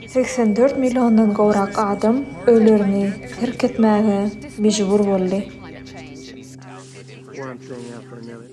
Segsen dört milliondan gowrak adam öýlerini terk etmäge mejbur boldy.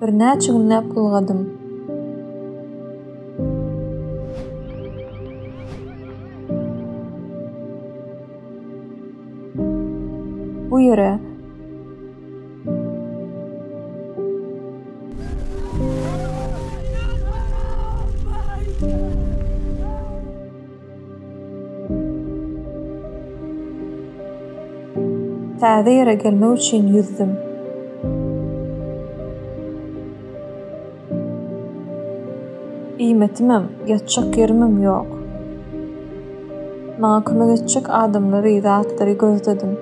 Birnäçe günläp gylgadym. Bu ýere Täze ýere gelmek üçin ýüzdüm. Iýmetimem, ýatjak ýerimem ýok. Maňa kömek etjek adamlary, zatlary gözledim.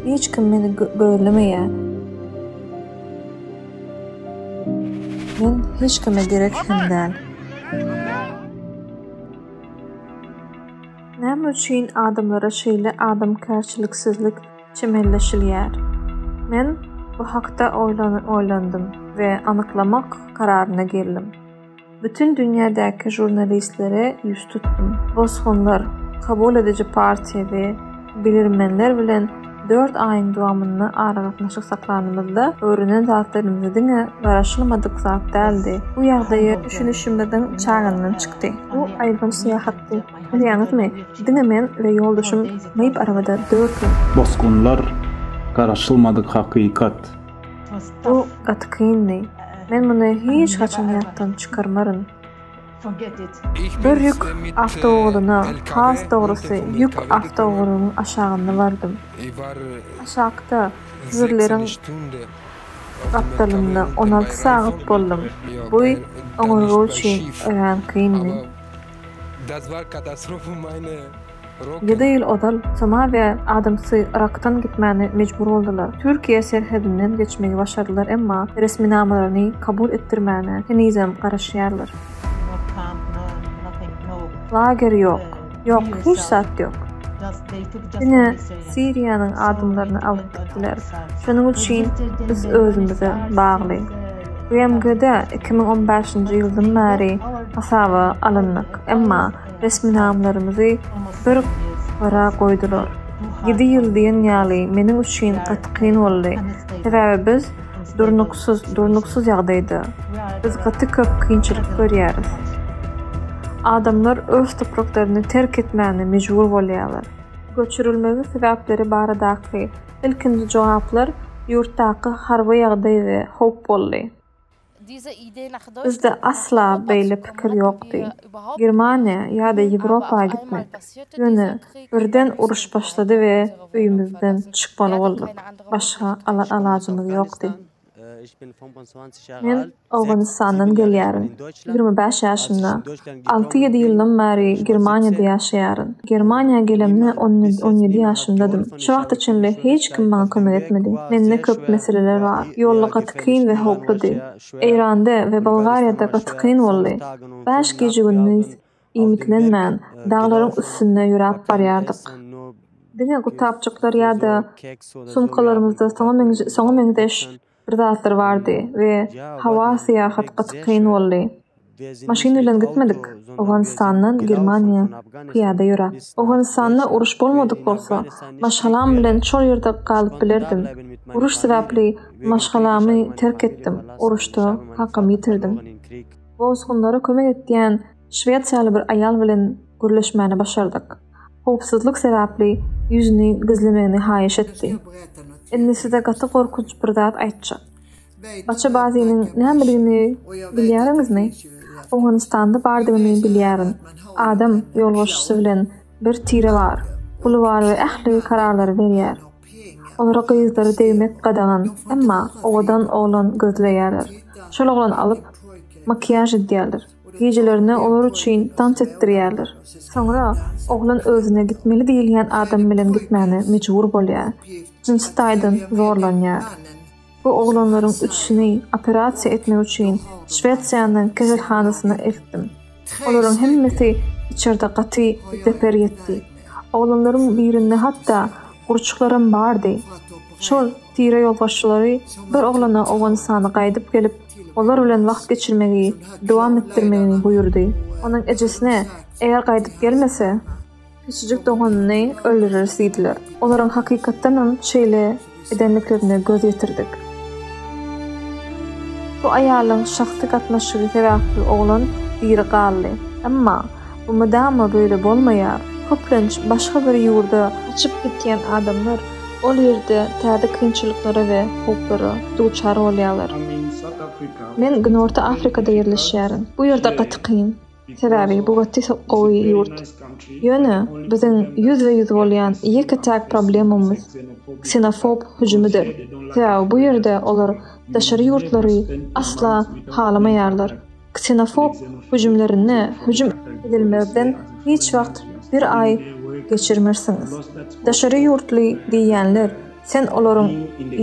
Hiç kim meni gözlemeýär. Men hiç kime gerek hem däl. Näme üçin adamlara şeýle adamkärçiliksizlik çemenleşilýär? Men bu hakda oýlandym we anyklamak kararyna geldim. Bütin dünýädäki žurnalistlere ýüz tutdum. Bosgunlar, kabul ediji partiýa we bilermenler bilen dört aýyň dowamynda aragatnaşyk saklanymyzda, öwrenen zatlarymyz diňe garaşylmadyk zat däldi. Bu ýagdaýa düşünişimiziň çagyndan çykdy. Bu aýylganç syýahatdy. Bilýäňizmi, diňe men we ýoldaşym myp arabada dört ýyl. Bosgunlar, garaşylmadyk hakykat. Bu gaty kyndy. Men muny hiç haçan ýatdan çykarmaryn. Bir ýük awtoulagyna, has dogrusy, ýük awtoulagynyň aşagynda bardym. Aşakda, jübirleriň gapdalynda on alty sagat boldum. Bu oňurga üçin örän kyndy. Ýedi ýyl ozal Somaliýa adamsy Yrakdan gitmäne mejbur boldular. Türkiýe serhedinden geçmegi başardylar emma resminamalaryny kabul etdirmäne henizem garaşýarlar. Lager ýok. Ýok, hiç zat ýok. Diňe Siriýanyň adamlaryny alyp gitdiler. Şonuň üçin biz özümize bagly. BMG-de iki müň on bäşinji ýyldan bäri hasaba alyndyk, emma resminamlarymyzy bir gyra goýdular. Ýedi ýyl diýen ýaly meniň üçin gaty kyn boldy. Sebäbi biz durnuksyz, durnuksyz ýagdaýda. Biz gaty köp kynçylyk görýäris. Adamlar öz topraklaryny terk etmäne mejbur bolýarlar. Göçürilmegiň sebäpleri baradaky ilkinji jogaplar ýurtdaky harby ýagdaý we howp boldy. Bizde asla beýle pikir ýokdy. Germaniýa ýa-da Ýewropa gitmek. Ýöne birden uruş başlady we öýümizden çykmaly bolduk. Başga alajymyz ýokdy. Men Owganystandan gelýärin. Ýigrimi bäş ýaşymda. Alty-ýedi ýyldan bäri Germaniýada ýaşaýaryn. Germaniýa gelemde on ýedi ýaşymdadym. Şu wagta çenli hiç kim maňa kömek etmedi. Mende köp meseleler bar. Ýolda gaty kyn we howpludy. Eýranda we Bolgariýada gaty kyn boldy. Bäş gije-gündiz iýmitlenmän, daglaryň üstünde ýöräp barýardyk. Diňe gutapjyklar ýa-da sumkalarymyzda soňa meňzeş. bir zatlar bardy we howa syýahat gaty kyn boldy. Maşyn bilen gitmedik, Owganystandan Germaniýa pyýada ýöräp. Owganystanda uruş bolmadyk bolsa, maşgalam bilen şol ýerde galyp bilerdim. Uruş sebäpli maşgalamy terk etdim, uruşda kakamy ýitirdim. Bosgunlara kömek etýän. Şwesiýaly bir aýal bilen gürleşmäni başardyk. Howpsuzlyk sebäpli ýüzüni gizlemegini haýyş etdi. Indi size gaty gorkunç bir zat aýtjak. Baça Baziniň nämedigini bilýäriňizmi? Owganystanda bardygyny bilýärin. Adam ýolbaşçysy bilen bir tire bar. Puly bar we ähli kararlary berýär. Olara gyzlary degmek gadagan, emma owadan oglan gözleýärler. Şol oglany alyp, makiýaž edýärler. Gijelerine olar üçin tans etdirýärler. Soňra oglan özüne gitmeli diýilýän adam bilen gitmäne mejbur bolýar. Jynsy taýdan zorlanýar. Bu oglanlaryň üçüsini operasiýa etmek üçin Şwesiýanyň keselhanasyna eltdim. Olaryň hemmesi içerde gaty zeper ýetdi. Oglanlaryň birinde hatda gurçuklaram bardy. Şol tireýolbaşçylary bir oglana Owganystana gaýdyp gelip, olar bilen wagt geçirmegi dowam etdirmegini buýurdy. Onuň ejesine, eger gaýdyp gelmese, kiçijik doganyny öldüreris diýdiler. Olaryň hakykatdanam şeýle edenliklerine göz ýetirdik. Bu aýalyň şahsy gatnaşygy sebäpli oglan diri galdy. Emma. Bu mydama böyle bolmaýar. Köplenç başga bir ýurda gaçyp gitýän adamlar ol ýerde täze kynçylyklara we howplara duçar bolýarlar. Men Günorta Afrikada ýerleşýärin. Bu ýerde gaty kyn. Sebäbi bu gaty gowy ýurt. Ýöne biziň ýüzbe-ýüz bolýan ýeke-täk problemamyz ksenofob hüjümidir. Sebäbi bu ýerde olar daşary ýurtlary asla halamaýarlar. ksenofob hüjümlerine hüjüm edilmezden hiç wagt bir aý geçirmersiňiz. Daşary ýurtly diýýänler sen olaryň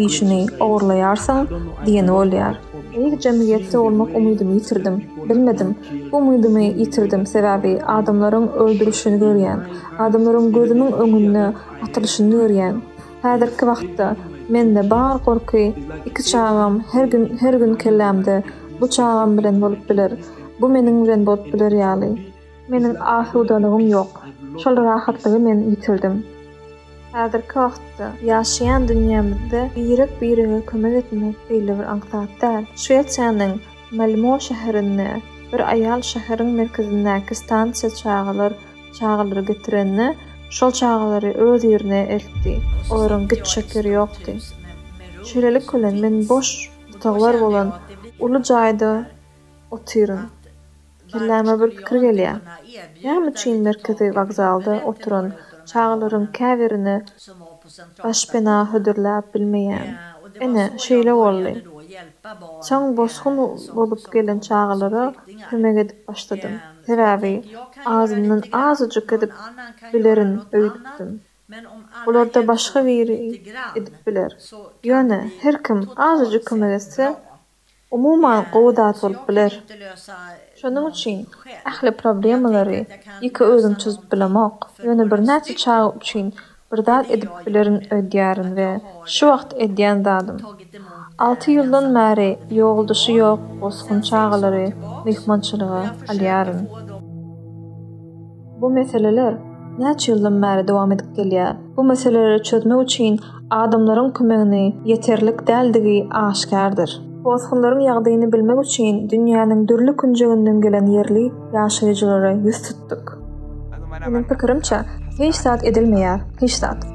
işini ogurlaýarsyň diýeni bolýar. Beýik jemgyýetde bolmak umydymy ýitirdim. Bilmedim. Bu umydymy ýitirdim, sebäbi adamlaryň öldürilişini görýän. Adamlaryň gözümiň öňünde atylyşyny görýän. Häzirki wagtda mende bar gorky iki çagam her gün her gün kellämde bu çagam bilen bolup biler bu meniň bilen bolup biler ýaly meniň asudalygym ýok şol rahatlygy men ýitirdim häzirki wagtda ýaşaýan dünýämizde birek birege kömek etmek beýle bir aňsat däl şwesiýanyň malmo şäherinde bir aýal şäheriň merkezindäki stansiýa çagalar Çagalary getirende, şol çagalary öz ýerine eltdi. Olaryň gitjek ýeri ýokdy. Şeýlelik bilen, men boş otaglar bolan uly jaýda otyryn. Kelläme bir pikir gelýär. Näme üçin merkezi wokzalda oturan çagalaryň käbirini başpena hödürläp bilmeýän? Ine, şeýle boldy. Soň bosgun bolup gelen çagalara kömek edip başladym. Sebäbi azyndan azajyk edip bilerin öýdüpdim. Bularda başga biri edip biler. Ýöne her kim azajyk kömek etse, umuman gowy zat bolup biler. Şonuň üçin ähli problemalary ýeke özüm çözüp bilemok. Ýöne birnäçe çaga üçin Bir zat edip bilerin öýdýärin we şu wagt edýän zadym. Alty ýyldan bäri ýolduşy ýok bosgun çagalary myhmançylyga alýaryn. Bu meseleler näçe ýyldan bäri dowam edip gelýär. Bu meseleleri çözmek üçin adamlaryň kömegini ýeterlik däldigi aşkärdir. Bosgunlaryň ýagdaýyny bilmek üçin dünýäniň dürli künjeginden gelen ýerli, ýaşaýjylara ýüz tutduk. Meniň pikirimçe, hiç zat edilmeýär, hiç zat.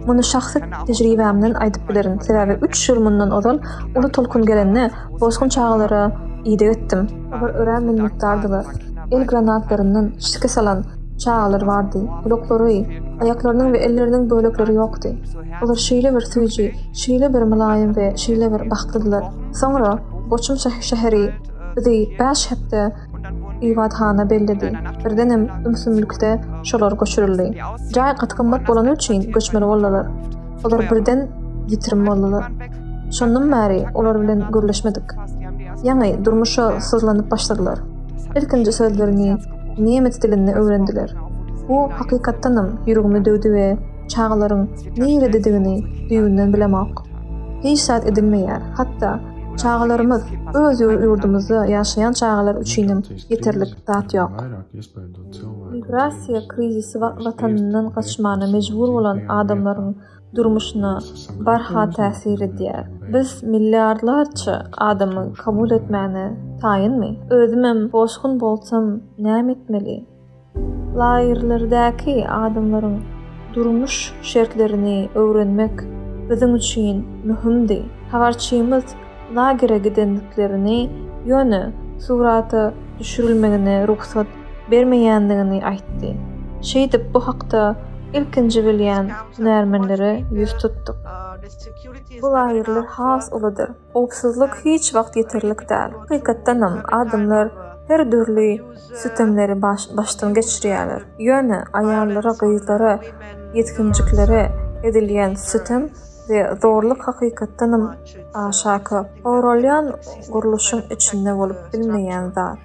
Muny şahsy tejribämden aýdyp bilerin, sebäbi üç ýyl mundan ozal uly tolkun gelende bosgun çagalara ideg etdim. Olar örän minnetdardylar. El granatlaryndan şikes alan çagalar bardy, gulaklary, aýaklarynyň we elleriniň bölekleri ýokdy. Olar şeýle bir süýji, şeýle bir mylaýym we şeýle bir bagtlydylar. Soňra Boçum şäheri bizi bäş hepde Ybathana bellidi. Birdenem ümsümlikde şolar göçürildi. Jaý gaty gymmat bolany üçin göçmeli boldular. Olar birden ýitirim boldular. Şondan bäri olar bilen gürleşmedik. Ýaňy durmuşa syzlanyp başladylar. Ilkinji sözlerini nemes dilinde öwrendiler. Bu hakykatdanam ýüregimi döwdi we çagalaryň nirededigini düýbünden bilemok. Hiç zat edilmeýär, hatda Çagalarymyz, öz ýurdumyzda ýaşaýan çagalar üçinem ýeterlik zat ýok. Migrasiýa krizisi watanyndan gaçmana mejbur bolan adamlaryň durmuşyna barha täsir edýär. Biz milliardlarça adamy kabul etmäne taýynmy? Özümem bosgun bolsam näme etmeli? Lagerlerdäki adamlaryň durmuş şertlerini öwrenmek biziň üçin möhümdi. Habarçymyz lagere gidendiklerini, ýöne surata düşürilmegine rugsat bermeýändigini aýtdy. Şeýdip, bu hakda ilkinji bilýän hünärmenlere ýüz tutduk. Bu lagerler has uludyr. Howpsuzlyk hiç wagt ýeterlik däl. Hakykatdanam, adamlar her dürli sütemleri başdan geçirýärler. Ýöne aýallara, gyzlara, ýetginjiklere edilýän sütem we zorluk hakykatdanam aşaky goralýan gurluşyň içinde bolup bilmeýän zat.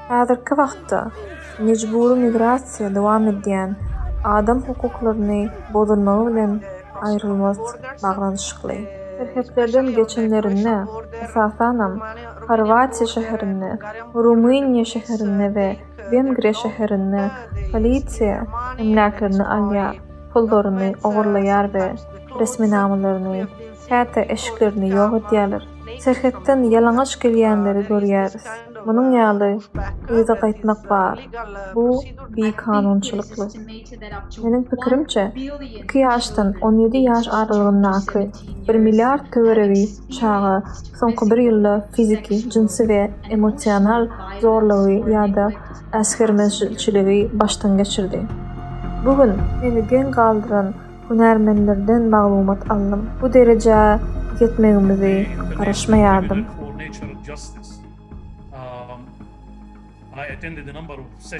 Häzirki wagtda mejbury migrasiýa dowam edýän adam hukuklaryny bozulmagy bilen aýrylmaz baglanyşykly. Serhetlerden geçenlerinde, esasanam, Horwatiýa şäherinde, Rumyniýa şäherinde we Wengriýa şäherinde polisiýa emläklerini alýar, pullaryny ogurlaýar we resminamalaryny käte eşiklerini ýok edýärler. Serhetden ýalaňaç gelýänleri görýäris. Munuň ýaly yza gaýtmak bar. Bu bikanunçylykly. Meniň pikirimçe, iki ýaşdan on ýedi ýaş aralygyndaky bir milliard töweregi çaga soňky bir ýylda fiziki, jynsy we emosional zorlugy ýa-da äsgermezçiligi başdan geçirdi. Bu gün meni geň galdyran hünärmenlerden maglumat aldym. Bu derejä ýetmegimizi garaşmaýardym.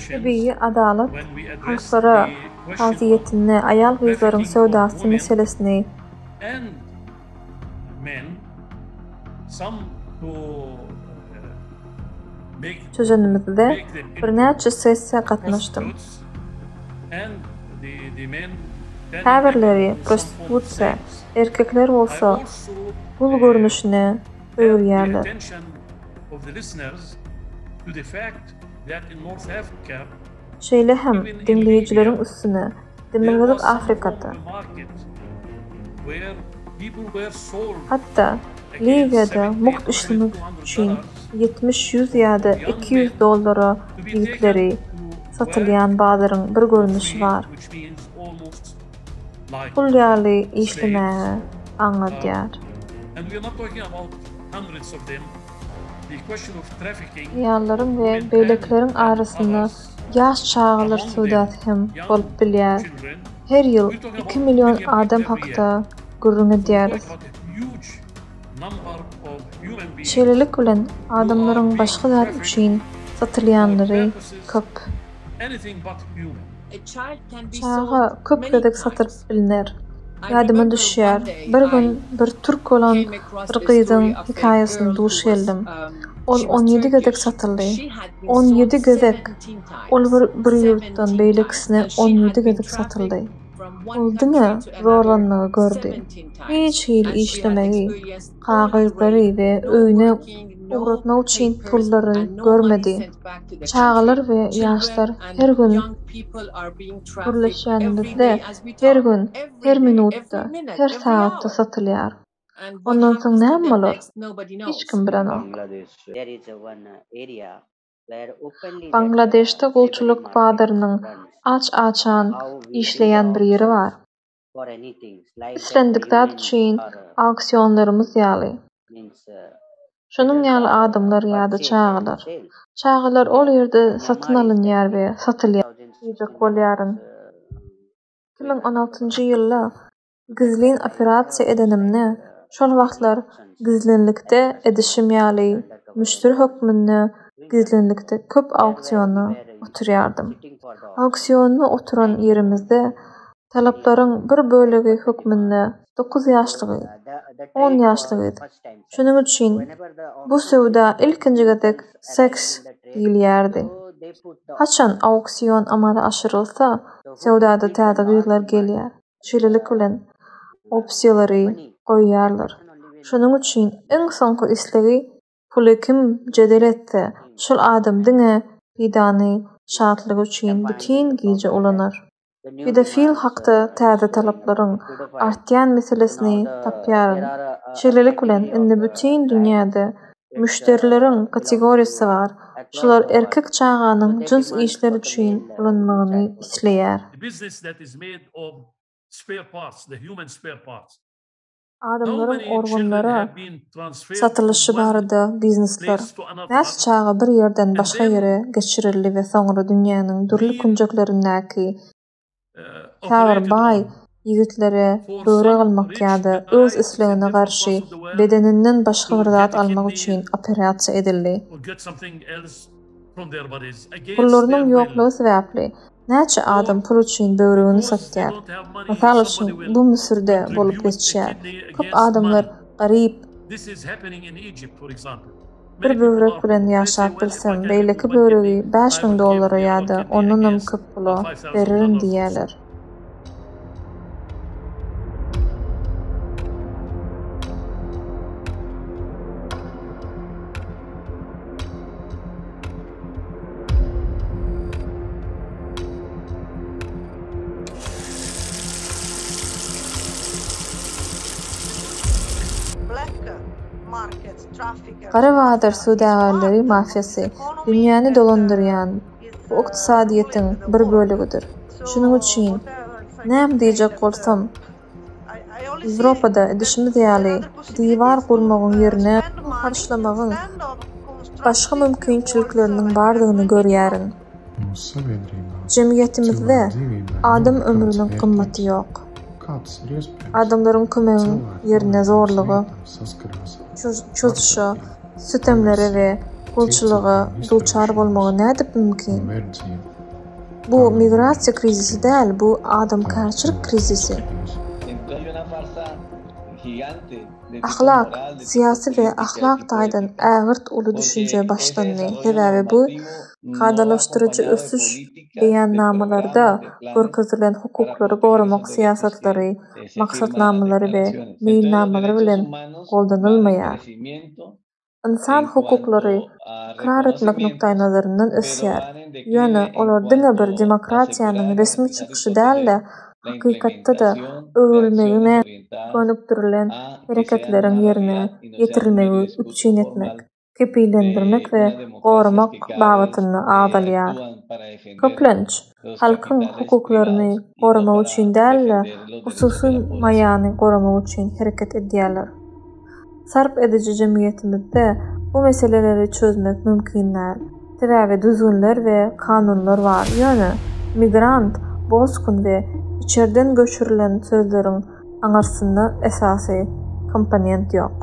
Tebigy adalat halkara kazyýetinde aýal-gyzlaryň söwdasy meselesini, Men sam bu Çözünimizde birnäçe sessiýa gatnaşdym. Käbirleri prostitusiýa, erkekler bolsa gul görnüşine öwürýärler. Şeýle hem diňleýjileriň üstüne Demirgazyk Afrikada, hatda Liwiýada mugt işlemek üçin ýetmiş, ýüz ýa-da iki ýüz dollara ýigitleri satylýan bazaryň bir görnüşi bar. Gul ýaly işlemäge aňladýar. Aýallaryň we beýlekileriň arasynda Ýaş çagalar söwdasy hem bolup bilýär. Her ýyl iki million adam hakda gürrüň edýäris. Şeýlelik bilen, adamlaryň başga zat üçin satylýanlary köp. Çaga köp gezek satylyp bilner. Ýadyma düşýär, bir gün bir türk bolan bir gyzyň hekaýasyna duş geldim. Ol on ýedi gezek satyldy. On ýedi gezek! Ol bir bir ýurtdan beýlekisine on ýedi gezek satyldy. Ol diňe zorlanmagy gördi. Hiç hili işlemegi. kagyzlary we öýüne ugratmak üçin pullary görmedi. Çagalar we ýaşlar her gün gürleşýänimizde, her gün, her minutda, her sagatda satylýar. Ondan soň näme bolar? Hiç kim bilenok. Bangladeşde gulçulyk bazarynyň aç-açan işleýän bir ýeri bar. Islendik zat üçin auksionlarymyz ýaly. Şonuň ýaly adamlar ýa-da çagalar. Çagalar ol ýerde satyn alynýar we satylýar diýjek bolýaryn. Iki müň on altynjy ýylda gizlin operasiýa edenimde, şol wagtlar gizlinlikde edişim ýaly müşderi hökmünde gizlinlikde köp auksiona oturýardym. Auksiona oturan ýerimizde talaplaryň bir bölegi hökmünde dokuz ýaşlygy, on ýaşlygy edip, şonuň üçin bu söwda ilkinji gezek seks diýilýärdi. Haçan auksion amala aşyrylsa, söwdada täze gyzlar gelýär, şeýlelik bilen opsiýalary goýýarlar. Şonuň üçin iň soňky islegi Puly kim jedel etse, şol adam diňe pidany şatlygy üçin bütin gije ulanar. Pedofil hakda täze talaplaryň artýan meselesini tapýaryn. Şeýlelik bilen, indi bütin dünýäde müşderileriň kategoriýasy bar, şular erkek çaganyň jyns işler üçin ulanmagyny isleýär. Adamlaryň organlary satylyşy barada biznesler. Näçe çaga bir ýerden başga ýere geçirildi we soňra dünýäniň dürli künjeklerindäki käbir baý ýigitlere böwrek almak ýa-da öz islegine garşy bedeninden başga bir zat almak üçin operasiýa edildi. Pullarynyň ýoklugy sebäpli, näçe adam pul üçin böwregini satýar. Mysal üçin, bu Müsürde bolup geçýär. Köp adamlar garyp. Bir böwrek bilen ýaşap bilsem, beýleki böwregi bäş müň dollara ýa-da ondanam köp pula bererin diýýärler. Gara bazar söwdagärleri mafiýasy, dünýäni dolandyrýan bu ykdysadyýetiň bir bölegidir. Şunuň üçin näme diýjek bolsam, Ýewropada edişimiz ýaly diwar gurmagyň ýerine pul harçlamagyň başga mümkinçilikleriniň bardygyny görýärin. Jemgyýetimizde adam ömrüniň gymmaty ýok. Adamlaryň kömegiň ýerine zorluga, çozuşa, sütemlere we gulçulyga duçar bolmagy nädip mümkin? Bu migrasiýa krizisi däl, bu adamkärçilik krizisi. Ahlak, syýasy we ahlak taýdan ägirt uly düşünje başlandy, sebäbi bu kadalaşdyryjy ösüş. Beýannamalarda görkezilen hukuklary goramak syýasatlary, maksatnamalary we meýilnamalary bilen goldanylmaýar. Ynsan hukuklary ykrar etmek nukdaýnazaryndan ösýär, ýöne olar diňe bir demokratiýanyň resmi çykyşy däl-de, hakykatda-da öwrülmegine gönükdirilen hereketleriň ýerine ýetirilmegi üpjün etmek, kepillendirmek we goramak babatynda agzalýar. Köplenç, halkyň hukuklaryny goramak üçin däl-de, hususy maýany goramak üçin hereket edýärler. Sarp ediji jemgyýetimizde bu meseleleri çözmek mümkin däl. Sebäbi düzgünler we kanunlar bar, ýöne migrant, bosgun we içerden göçürilen sözleriň aňyrsynda esasy komponent ýok.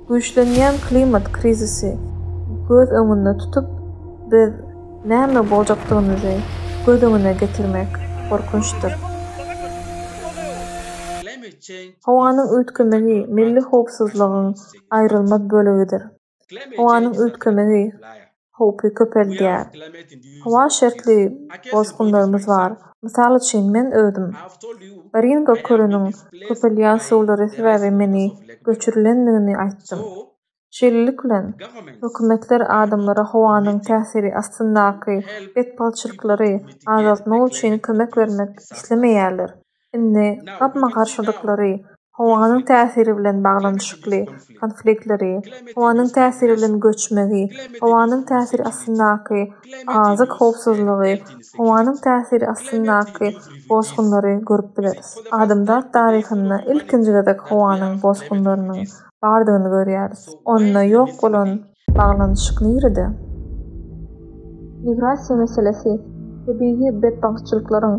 Güýçlenýän klimat krizisi göz öňünde tutup, biz näme boljakdygymyzy göz öňüne getirmek gorkunçdyr. Howanyň üýtgemegi milli howpsuzlygyň aýrylmaz bölegidir. Howanyň üýtgemegi howpy köpeldýär. Howa şertli bosgunlarymyz bar. Mysal üçin, men özüm. Baringo kölüniň köpelýän suwlary sebäbi meni göçürilendigini aýtdym. Şeýlelik bilen, hökümetler adamlara howanyň täsiri astyndaky betbagtçylyklary azaltmak üçin kömek bermek islemeýärler. Indi gapma-garşylyklary, howanyň täsiri bilen baglanyşykly konfliktleri, howanyň täsiri bilen göçmegi, howanyň täsiri astyndaky azyk howpsuzlygy, howanyň täsiri astyndaky bosgunlary görüp bileris. Adamzat taryhynda ilkinji gezek howanyň bosgunlarynyň bardygyny görýäris. Onda ýok bolan Baglanyşyk nirede? Migrasiýa meselesi tebigy betbagtçylyklaryň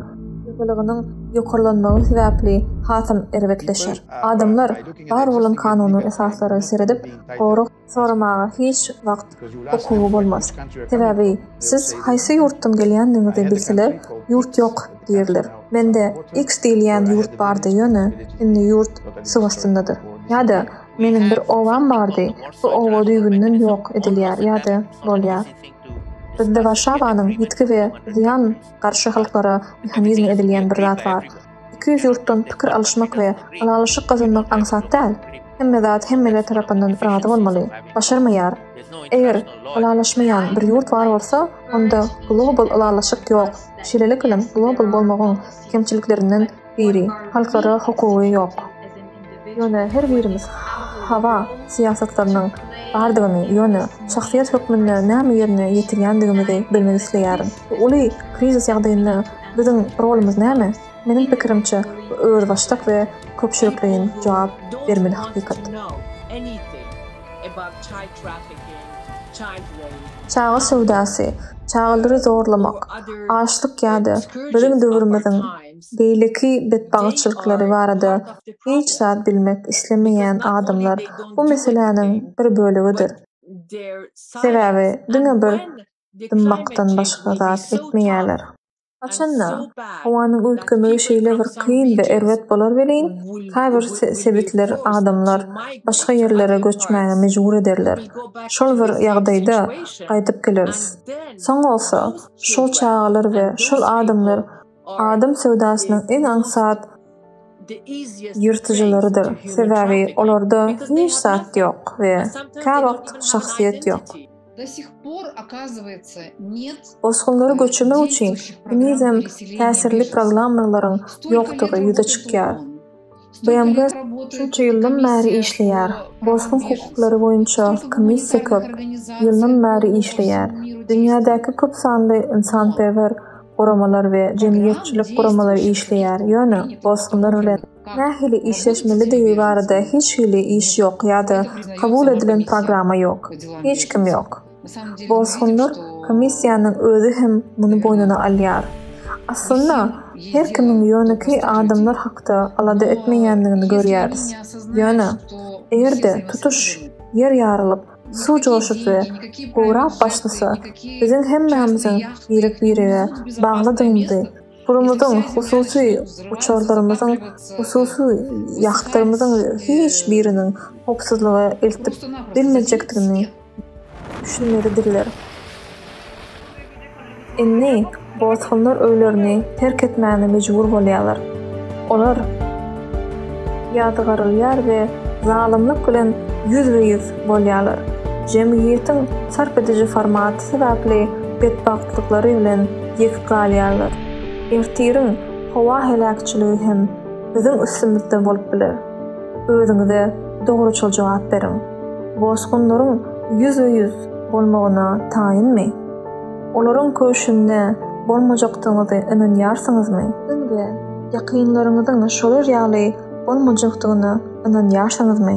ýygylygynyň ýokarlanmagy sebäpli hasam erbetleşer. Adamlar bar bolan kanuny esaslara seredip, gorag soramaga hiç wagt hukugy bolmaz. Sebäbi siz haýsy ýurtdan gelýändigiňizi bilseler, ýurt ýok diýerler. Mende X diýilýän ýurt bardy ýöne indi ýurt suw astyndadyr. Ýa-da Meniň bir obam bardy. Bu oba düýbünden ýok edilýär ýa-da bolýar. Bizde Warşawanyň ýitgi we zyýan garşy halklara mehanizmi edilýän bir zat bar. Iki ýüz ýurtdan pikir alyşmak we ylalaşyk gazanmak aňsat däl. Hemme zat hemmeler tarapyndan razy bolmaly. Başarmaýar. Eger ylalaşmaýan bir ýurt bar bolsa, onda global ylalaşyk ýok. Şeýlelik bilen global bolmagyň kemçiliklerinden biri halkara hukugy ýok. Ýöne her birimiz hawa syýasatlarynyň bardygyny, ýöne şahsyýet hökmünde näme ýerine ýetirýändigimizi bilmek isleýärin. Bu uly krizis ýagdaýynda biziň rolumyz näme? Meniň pikirimçe, bu özbaşdak we köpçülikleýin jogap bermeli hakykat. Çaga söwdasy, çagalary zorlamak, açlyk ýa-da biziň döwrümiziň Beýleki betbagytçylyklary barada hiç zat bilmek islemeýän adamlar bu meseläniň bir bölegidir. Sebäbi diňe bir dymmakdan başga zat etmeýärler. Haçan-da, howanyň üýtgemegi şeýle bir kyn we erbet bolar welin, käbir sebitler adamlar başga ýerlere göçmäge mejbur ederler. Şol bir ýagdaýda gaýdyp geleris. Soň bolsa, şol çagalar we şol adamlar Adam söwdasynyň iň aňsat ýyrtyjylarydyr, sebäbi olarda hiç zat ýok we käwagt şahsyýet ýok. Bosgunlary göçürmek üçin henizem täsirli programmalaryň ýokdugy ýüze çykýar. BMG şunça ýyldan bäri işleýär. Bosgun hukuklary boýunça komissiýa köp ýyldan bäri işleýär. Dünýädäki köp sanly ynsanperwer guramalar we jemgyýetçilik guramalary işleýär, ýöne bosgunlar bilen nähili işleşmelidigi barada hiç hili iş ýok ýa-da kabul edilen programma ýok. Hiç kim ýok. Bosgunlar komissiýanyň özi hem muny boýnuna alýar. Aslynda, her kimiň ýönekeý adamlar hakda alada etmeýändigini görýäris. Ýöne, eger-de tutuş Ýer ýarylyp, suw joşup we gurap başlasa, biziň hemmämiziň birek-birege baglydygymyzy, pulumyzyň, hususy uçarlarymyzyň, hususy ýahtlarymyzyň hiç biriniň howpsuzlyga eltip bilmejekdigini, düşünmelidirler. Indi bosgunlar öýlerini terk etmäne mejbur bolýarlar. Olar ýazgarylýar we zalymlyk bilen ýüzbe-ýüz bolýarlar. Jemgyýetiň sarp ediji formaty sebäpli betbagtlyklary bilen ýek galýarlar. Ertiriň howa heläkçiligi hem biziň üstümizde bolup biler. Özüňize dogruçyl jogap beriň. Bosgunlaryň ýüzbe-ýüz bolmagyna taýynmy? Olaryň köşünde bolmajakdygyňyzy ynanýarsyňyzmy? Öňde ýakynlaryňyzyň şolar ýaly bolmajakdygyna ynanýarsyňyzmy?